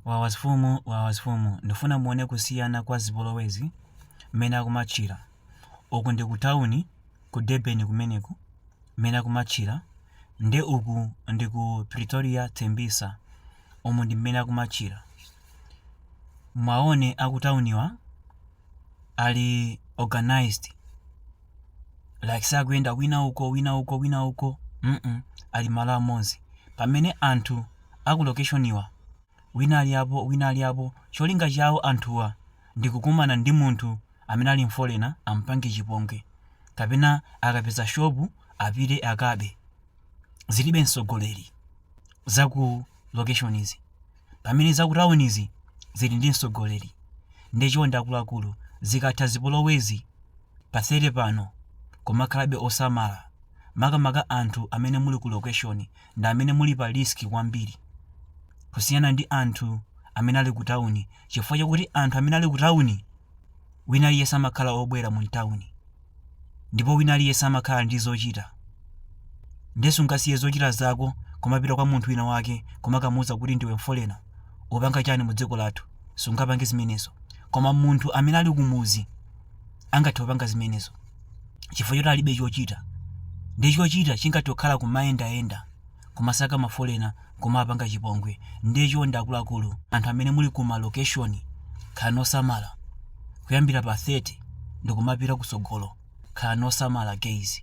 Wawa azifumu wawa azifumu ndifuna muone kusiyana kwa zipolowezi mmene akumatchira uku ndi ku town ku Durban kumeneku mmene akumatchira nde uku ndi ku Pretoria Tembisa umu ndi mmene akumatchira mwaone a ku tawuniwa ali organized like sakuyenda wina uko wina uko wina uko mm ali malo amodzi pamene anthu a ku lokeshoniwa wina ali apo, wina ali apo, cholinga chawo anthuwa ndi kukumana ndi munthu amene ali mfolena ampange chipongwe kapena akapeza shopu apite akabe. Zilibe msogoleri za ku lokeshonizi pamene za ku tawunizi zili ndi msogoleri. Nde chonde akuluakulu zikatha zipolowezi pa 30 pano kumakhalabe osamala makamaka anthu amene muli ku lokeshoni ndi amene muli pa risk kwambiri kusiyana ndi anthu amene ali ku tawuni chifukwa chakuti anthu amene ali ku tawuni wina aliyense amakhala obwera mu tawuni ndipo wina aliyense amakhala ndi zochita ndiye sungasiye zochita zako kumapita kwa munthu wina wake kumakamuuza kuti ndiwe mfolena upanga chani mu dziko lathu sungapange zimenezo koma munthu amene ali kumuzi angathe kupanga zimenezo chifukwa choti alibe chochita ndiye chochita chingathe kukhala kumayendayenda kumasaka mafolena nkumawapanga chipongwe ndiye chonde akuluakulu anthu amene muli ku malocation khalani osamala kuyambira pa 30 ndikumapita kusogolo khalani osamala guys